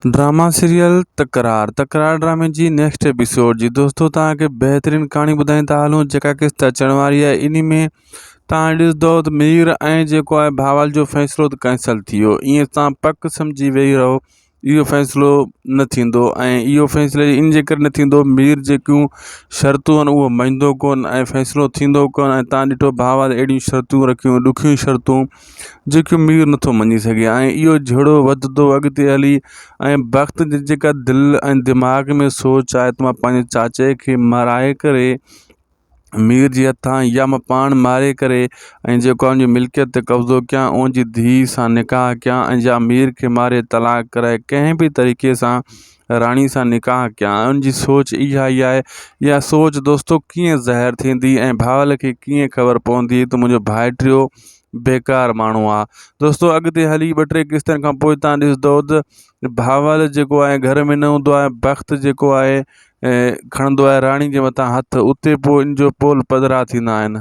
drama serial Takrar Takrar ڊرامي جي next episode جي دوستو توهان کي بهترين ڪهاڻي ٻڌائين ٿا هلون جيڪا قسط اچڻ واري آهي انهي ۾ توهان ڏسندو ته مير ۽ جيڪو آهي ڀاول جو فيصلو ته ڪينسل ٿي ويو ائين تان پڪ سمجهي ويهي رهو اهو فيصلو نه ٿيندو ۽ اهو فيصلو ان جي ڪري نه ٿيندو مير جيڪيون شرطون آهن اهو مڃدو ڪون ۽ فيصلو ٿيندو ڪون ۽ تان ڏٺو ڀاول اهڙيون شرطون رکيون ڏکيون شرطون جيڪي مير نٿو مڃي سگهي ۽ اهو جهيڙو وڌندو اڳتي هلي ۽ بخت جي جيڪا دل ۽ دماغ ۾ سوچ آهي ته مان پنهنجي چاچي کي مارائي ڪري مير جي هٿان يا مان پاڻ ماري ڪري ۽ جيڪو آهي ان جي ملڪيت تي قبضو ڪيان ان جي ڌيء سان نڪاح ڪيان ۽ يا مير کي ماري طلاق ڪرائي ڪنهن به طريقي سان راڻي سان نڪاح ڪيان ان جي سوچ اها ئي آهي يا سوچ دوستو ڪيئن ظاهر ٿيندي ۽ ڀاول کي ڪيئن خبر پوندي ته منهنجو ڀائٽيو بيڪار ماڻهو آ دوستو اڳتي هلي ٻه ٽي قسطن کان پوء تان ڏسندو ته ڀاول جيڪو آهي گهر ۾ نه هوندو آهي بخت جيڪو آهي کڻندو آهي راڻي جي مٿان هٿ اتي پوء ان جو پول پڌرا ٿيندا آهن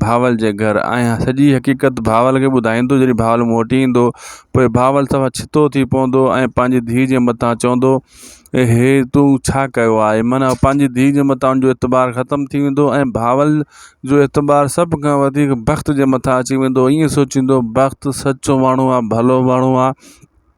بھاول جي گھر آيان سڄي حقيقت بھاول کي ٻڌائيندو جڏھن بھاول مون وٽ ايندو پوء بھاول سوا ڇتو ٿي پوندو ۽ پنھنجي ڌيء جي مٿان چوندو اي ھي تون ڇا ڪيو آھي من پنھنجي ڌيء جي مٿان ان جو اعتبار ختم ٿي ويندو ۽ بھاول جو اعتبار سڀ کان وڌيڪ بخت جي مٿان اچي ويندو ائين سوچيندو بخت سچو ماڻھو آ ڀلو ماڻھو آ